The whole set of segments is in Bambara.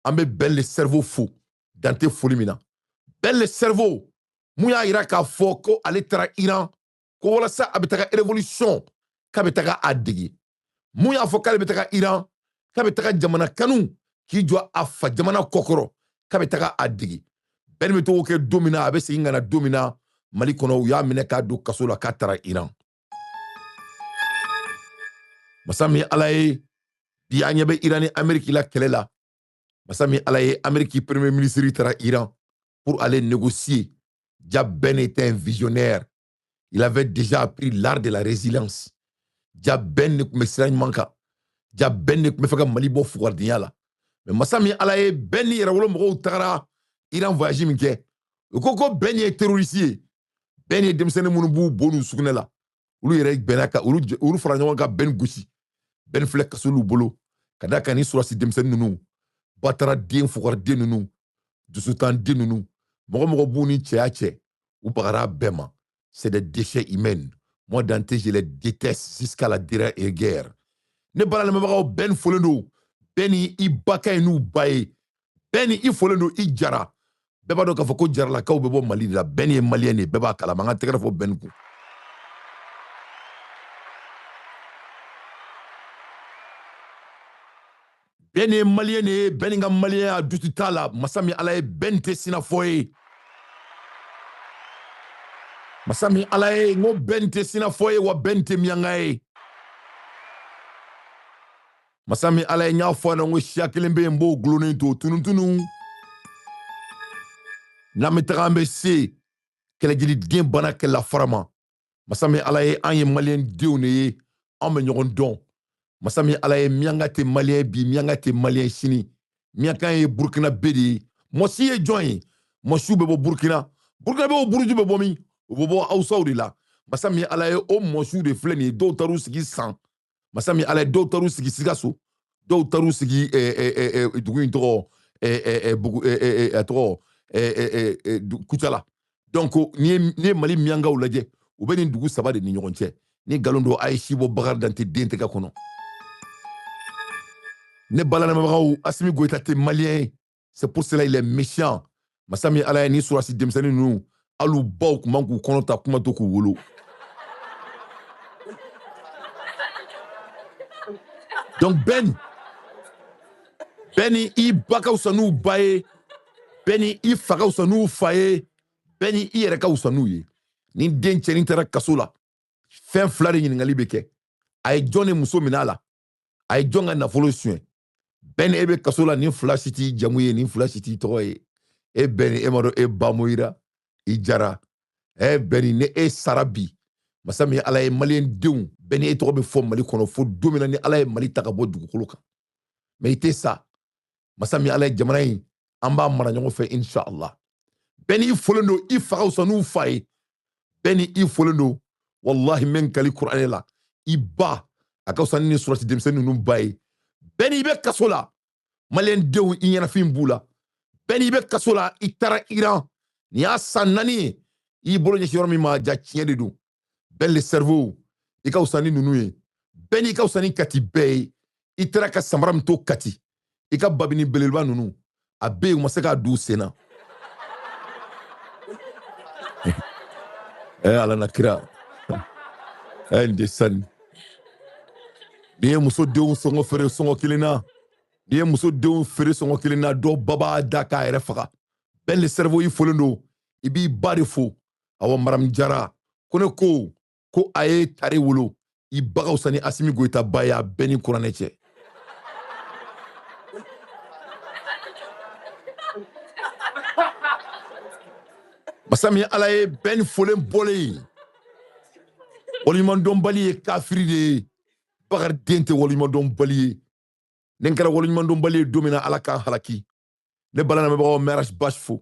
an bɛ ben le cerveau fo dan tɛ foli min na ben le cerveau mun y'a yira k'a fɔ ko ale taara iran ko walasa a bɛ taga révolution k'a bɛ taga a dege mun y'a fɔ k'ale bɛ taga iran k'a bɛ taga jamana kanu k'i jɔ a fa jamana kɔkɔrɔ k'a bɛ taga a dege ben bɛ tag'o kɛ don min na a bɛ segin ka na don min na mali kɔnɔ u y'a minɛ k'a don kaso la k'a taara iran masa min ala ye bi an ɲɛ bɛ iran ni ameriki la kɛlɛ la masa min ala ye ameriki premier ministre taara iran pour aller négocier ja ben était un visionnaire il avait déjà appris l'art de la résilience ja ben ne tun bɛ sira ɲuman kan ja ben ne tun bɛ fɛ ka mali bɔ fugaridenya la mais masa min ala ye ben ni yɛrɛwolo mɔgɔw tagara iran voyage min kɛ u ko ko ben ye terroriste ye ben ye denmisɛnnin minnu b'u bo n'u sugunɛ la olu yɛrɛ bɛnna ka olu fara ɲɔgɔn ka ben gosi ben filɛ kaso l'u bolo ka d'a kan nin surasi denmisɛnnin ninnu batara den fugari den ninnu dusutan den ninnu mɔgɔ mɔgɔ b'u ni cɛya cɛ u bagara bɛɛ ma c'est des déchets humains moi dante je les déteste jusqu'à la dernière guerre ne baro lamɛnbagaw ben folen don ben i ba ka ɲi n'u ba ye ben i folen don i jara bɛɛ b'a dɔn k'a fɔ ko jaralakaw bɛ bɔ mali de la ben ye maliyɛn de bɛɛ b'a kalama an ka tɛgɛrɛ fɔ ben kun ben ye maliyɛn de ye ben ka maliyɛnya doute t'a la masa min ala ye ben tɛ sinafɔ ye masa min ala ye n ko ben tɛ sinafɔ ye wa ben tɛ miyanka ye masa min ala ye n y'a fɔ na ko siya kelen bɛ yen n b'o gulonnen to tunutunu n'an bɛ taga an bɛ se kɛlɛjiliden bana kɛlɛla fara ma masa min ala ye an ye maliyɛn denw de ye an bɛ ɲɔgɔn dɔn masa min ala ye miyanka tɛ maliyɛn bi miyanka tɛ maliyɛn sini miyanka ye burukinabe de ye mɔsi ye jɔn ye mɔsiw bɛ bɔ burukina burukinabew buruju bɛ bɔ min u bɛ bɔ awusaw de la masa min ala ye o mɔsiw de filɛ nin ye dɔw taar'u sigi san masa min ala ye dɔw taar'u sigi sikaso dɔw taar'u sigi dugu in tɔgɔ a tɔgɔ kucala donc n'i ye mali miyankaw lajɛ u bɛ nin dugu saba de ni ɲɔgɔn cɛ ni nkalon don a ye si bɔ bakari dante den tɛgɛ kɔnɔ ne baro lamɛnbagaw asimi goyita tɛ maliyɛn ye c'est pour cela il est méchant masa min ala ye ni surasi denmisɛnnin ninnu al'u baw kun man k'u kɔnɔ ta kuma to k'u wolo donc bɛn bɛni i ba ka wusa n'u ba ye bɛni i fa ka wusa n'u fa ye bɛni i yɛrɛ ka wusa n'u ye ni den cɛnin taara kaso la fɛn fila de ɲininkali bɛ kɛ a ye jɔn de muso minɛ a la a ye jɔn ka nafolo suɲɛ bɛni e bɛ kaso la nin fila si t'i jamu ye nin fila si t'i tɔgɔ ye e bɛni e ma dɔn e ba moyira i jara ɛ bɛni ni e sara bi masa min ala ye maliyɛn denw bɛni e tɔgɔ bɛ fɔ mali kɔnɔ fo don min na ni ala ye mali ta ka bɔ dugukolo kan mais i tɛ sa masa min ala ye jamana in an b'a mara ɲɔgɔn fɛ inshallah bɛn i folen don i fa ka wusa n'u fa ye bɛni i folen don walahi n bɛ n kali kuranɛ la i ba a ka wusa ni nin surasi denmisɛnnin ninnu ba ye bɛn i bɛ kaso la maliyɛn denw i ɲɛnafin b'u la bɛn i bɛ kaso la i taara iran nin y'a san naani ye i bolo ɲɛsin yɔrɔ min ma ja tiɲɛ de don bɛn le cerveau i ka wusa ni ninnu ye bɛn i ka wusa ni kati bɛɛ ye i taara ka samara min to kati i ka babini belebeleba ninnu a bɛ yen u ma se k'a d'u sen na ɛ eh, ala n'a kira ɛ eh, nin de sanni n'i ye muso denw sɔngɔ feere sɔngɔ kelen na n'i ye muso denw feere sɔngɔ kelen na dɔ ba b'a da k'a yɛrɛ faga bɛn le cerveau i folen don i b'i ba de fo awa maramu jara ko ne ko ko a ye tare wolo i ba ka wusa ni asimi goyita ba ye a bɛ n ni kuranɛ cɛ masa min ala ye bɛni folen bɔlen ye waleɲumandɔnbali ye kafiri de ye bakari den tɛ waleɲumandɔnbali ye ni n kɛra waleɲumandɔnbali ye don min na ala k'an halaki ne bala lamɛnbagaw mɛ aras basi fo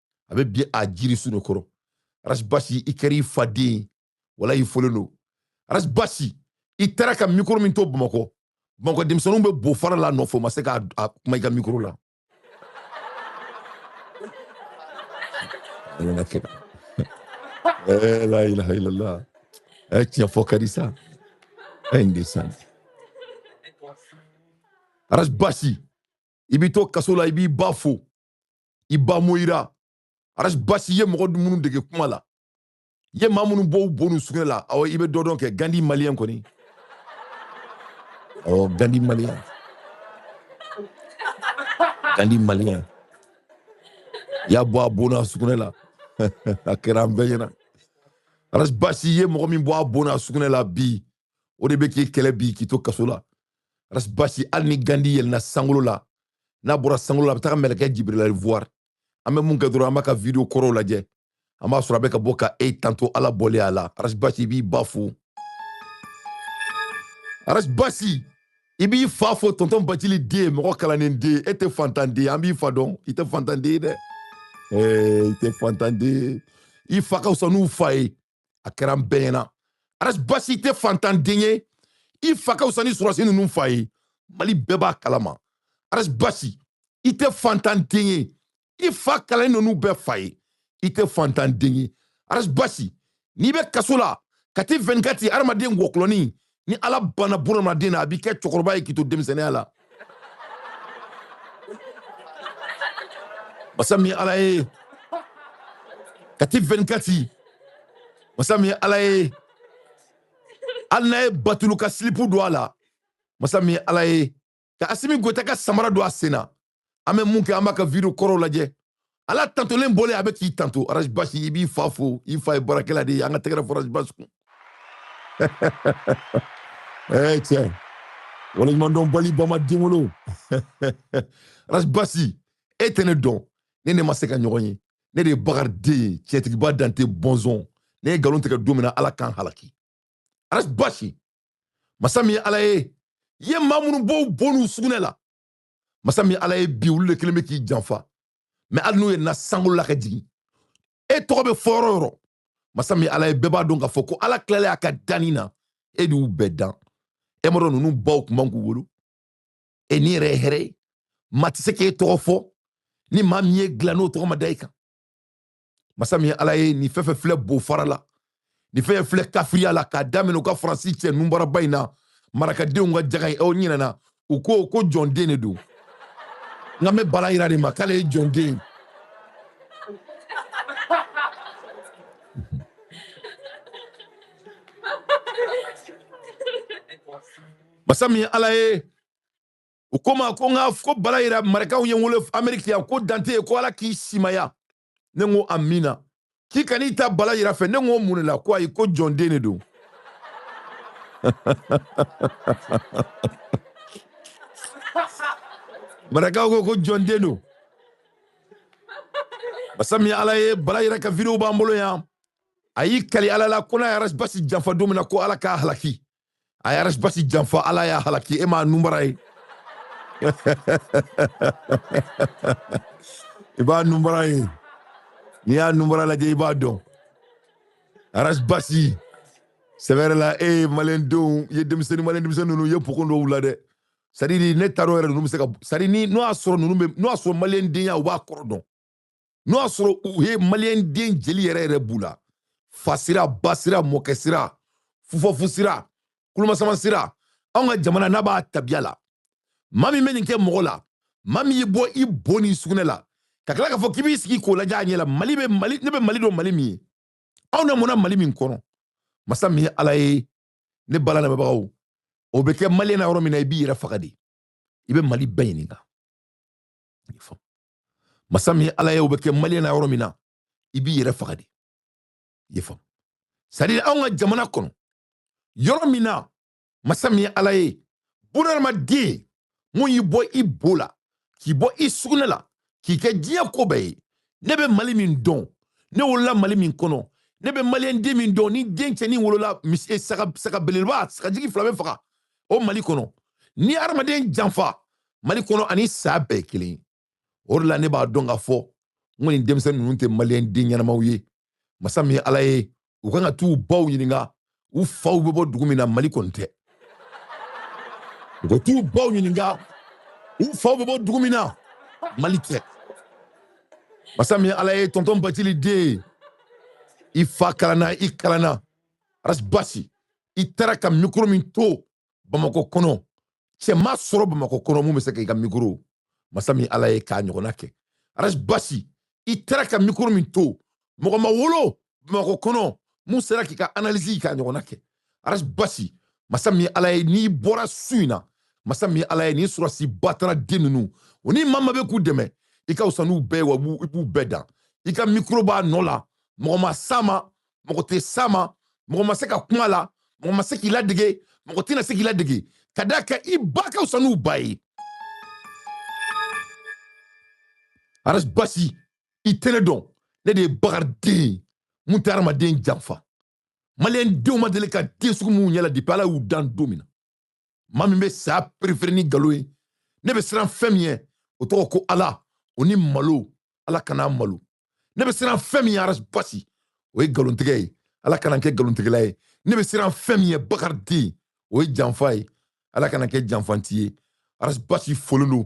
a bɛ bi a jirisun de kɔrɔ arasi basi i kɛra i fa den ye walahi i folen don arasi basi i taara ka mikoro min to bamakɔ bamakɔ denmisɛnninw bɛ bo fara la nɔfɛ o ma se ka kuma i ka mikoro la eh, la ilaha illallah eh, tiɲɛ fɔ ka di sa eh, nin de sa arasi basi i b'i to kaso la i b'i ba fo i ba moyira aras basi ye mɔgɔ minnu dege kuma la ye maa minnu bɔ u bo n'u sugunɛ la awɔ i bɛ dɔ dɔn kɛ gandi maliyɛn kɔni awɔ gandi maliyɛn gandi maliyɛn y'a bɔ a bo n'a sugunɛ la a kɛra an bɛɛ ɲɛna aras basi ye mɔgɔ min bɔ a bo n'a sugunɛ la bi o de bɛ k'i kɛlɛ bi k'i to kaso la aras basi hali ni gandi yɛlɛnna sankolo la n'a bɔra sankolo la a bɛ taga mɛlɛkɛ jibirila voir an bɛ mun kɛ dɔrɔn an b'a ka video kɔrɔw lajɛ an b'a sɔrɔ a bɛ ka bɔ ka e tanto ala bɔlen a la arasi basi i b'i ba fo arasi basi i b'i fa fo tɔntɔn bacili den mɔgɔ kalannen den e tɛ fantan den an b'i fa dɔn i tɛ fantan den ye dɛ i tɛ fantan den i fa ka fisa n'u fa ye a kɛra an bɛɛ ɲɛna aras basi i tɛ fantanden ye i fa ka fisa ni sɔrɔdasi ninnu fa ye mali bɛɛ b'a kalama aras basi i tɛ fantanden ye i fa kalannen ninnu bɛɛ fa ye i tɛ fantanden ye aras basi n'i bɛ kaso la kati 24 hadamaden wɔkulɔni ni ala banna bunadamaden na a b'i kɛ cɛkɔrɔba ye k'i to denmisɛnniya la masa min ala ye kati 24 masa min ala ye hali n'a ye batulu ka silipu don a la masa min ala ye ka asimi goyita ka samara don a sen na an bɛ mun kɛ an b'a ka video kɔrɔw lajɛ ala tantolen bɔlen a bɛ k'i tanto arazi basi i b'i fa fo i fa ye baarakɛla de ye an ka tɛgɛrɛ fɔ arazi basi kun ee cɛ waleɲumandɔnbali ba ma den wolo arazi basi e tɛ ne dɔn ne n'e ma se ka ɲɔgɔn ye ne de ye bakari den ye cɛtigiba dante bɔnzɔn ne ye nkalon tigɛ don min na ala ka n halaki arazi basi masa min ye ala ye i ye maa minnu bɔ u bo n'u sugunɛ la masa min ala ye bi olu de kelen bɛ k'i janfa mais hali n'u yɛlɛnna sankolo la ka jigin e tɔgɔ bɛ fɔ yɔrɔ yɔrɔ masa min ala ye bɛɛ b'a dɔn k'a fɔ ko ala tilalen a ka danni na e de y'u bɛɛ dan e maa tɔ ninnu baw kun man k'u wolo e ni yɛrɛ ye hɛrɛ ye maa tɛ se k'e tɔgɔ fɔ ni maa min y'e dilan n'o tɔgɔ ma da i kan masa min ye ala ye nin fɛn fɛn filɛ bo fara la nin fɛn filɛ kafiriya la k'a daminɛ u ka faransi cɛ nunbaraba in na marakadenw ka jaga ye aw ɲinɛna o kɔ ko jɔnden de don nka n bɛ bala yira de ma k'ale ye jɔnden masa min ye ala ye u ko n ma ko n ka ko bala yira marakaw ye n wele ameriki yan ko dante ko ala k'i simaya ne ko amina k'i kana taa bala yira fɛ ne ko mun de la ko ayi ko jɔn den de don marakaw ko ko jɔn den don masa min ala ye bala yira ka videow b'an bolo yan a y'i kali ala la ko n'a ye arasibasi janfa don min na ko ala k'a halaki a ye arasibasi janfa ala y'a halaki e m'a nunbara ye i b'a nunbara ye n'i y'a nunbara lajɛ i b'a dɔn arasibasi sɛbɛrɛ la e ye maliyɛndenw i ye denmisɛnnin maliyɛn denmisɛnnin ninnu i ye pokon dɔw la dɛ sadiri ne taar'o yɛrɛ ninnu bɛ se ka sadi ni n'o y'a sɔrɔ ninnu bɛ n'o y'a sɔrɔ maliyɛndenya u b'a kɔrɔ dɔn n'o y'a sɔrɔ u ye maliyɛn den jeli yɛrɛ yɛrɛ b'u la fa sira ba sira mɔkɛ sira fufafu sira kulomasama sira anw ka jamana n'a b'a tabiya la maa min bɛ nin kɛ mɔgɔ la maa min y'i bɔ i bo ni sugunɛ la ka tila k'a fɔ k'i b'i sigi k'o lajɛ a ɲɛ la mali bɛ mali ne bɛ mali dɔn mali min ye anw lamɔna mali min kɔnɔ masa min ye ala ye ne bala lamɛnbagaw o bɛ kɛ maliyɛn na yɔrɔ min na i b'i yɛrɛ faga de i bɛ mali bɛɛ ɲininka masa min ala ye o bɛ kɛ maliyɛn na yɔrɔ min na i b'i yɛrɛ faga de i y'a faamu sadi anw ka jamana kɔnɔ yɔrɔ min na masa min ye ala ye bunadamaden mun y'i bɔ i bo la k'i bɔ i sugunɛ la k'i kɛ diɲɛ ko bɛɛ ye ne bɛ mali min dɔn ne wolola mali min kɔnɔ ne bɛ maliyɛn den min dɔn ni den cɛnin wolola eh, saga belebeleba sagajigi fila bɛ faga o mali kɔnɔ ni hadamaden janfa mali kɔnɔ ani saa bɛɛ ye kelen ye o de la ne b'a dɔn k'a fɔ n ko nin denmisɛnnin ninnu tɛ maliyɛn den ɲɛnamaw ye masa min ye ala ye u kan ka t'u baw ɲininka u faw bɛ bɔ dugu min na mali kɔni tɛ u ka t'u baw ɲininka u faw bɛ bɔ dugu min na mali tɛ masa min ye ala ye tɔntɔn batili den i fa kalanna i kalanna arasi basi i taara ka mikoro min to bamakɔ kɔnɔ cɛ ma sɔrɔ bamakɔ kɔnɔ mun bɛ se ka i ka mikoro masa min ala ye k'a ɲɔgɔnna kɛ aras basi i taara ka mikoro min to mɔgɔ ma wolo bamakɔ kɔnɔ mun sera k'i ka analisi k'a ɲɔgɔnna kɛ aras basi masa min ala ye n'i bɔra su in na masa min ala ye ni sɔrɔdasi batara den ninnu o ni maa min bɛ k'u dɛmɛ i ka fisa n'u bɛɛ ye wa i b'u bɛɛ dan i ka mikoro b'a nɔ la mɔgɔ ma s'a ma mɔgɔ tɛ s'a ma mɔgɔ ma se ka kuma la mɔgɔ ma se k'i ladege mɔgɔ tɛna se k'i ladege ka d'a kan i ba ka fisa n'u ba ye aras basi i tɛ ne dɔn ne de ye bakariden ye mun tɛ hadamaden janfa maliyɛn denw ma deli ka den sugu minnu ɲɛ la depi ala y'u dan don min na maa min bɛ saya perefere ni nkalon ye ne bɛ siran fɛn min ye o tɔgɔ ko ala o ni malo ala kana malo ne bɛ siran fɛn min ye aras basi o ye nkalontigɛ ye ala kana n kɛ nkalontigɛla ye ne bɛ siran fɛn min ye bakari den o ye janfa ye ala kana kɛ janfanti ye aras basi folen don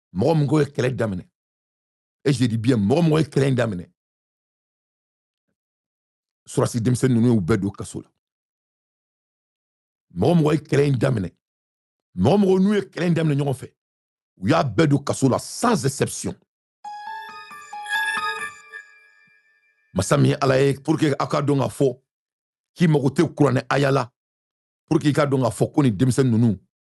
mɔgɔ mɔgɔ ye kɛlɛ daminɛ et je dis bien mɔgɔ mɔgɔ ye kɛlɛ in daminɛ sɔrɔdasi denmisɛnnin ninnu y'u bɛɛ don kaso la mɔgɔ mɔgɔ ye kɛlɛ in daminɛ mɔgɔ mɔgɔ n'u ye kɛlɛ in daminɛ ɲɔgɔn fɛ u y'a bɛɛ don kaso la sans exception masa min ye ala ye pour que aw k'a dɔn k'a fɔ k'i mago tɛ kuranɛ aya la pour que i k'a dɔn k'a fɔ ko nin denmisɛnnin ninnu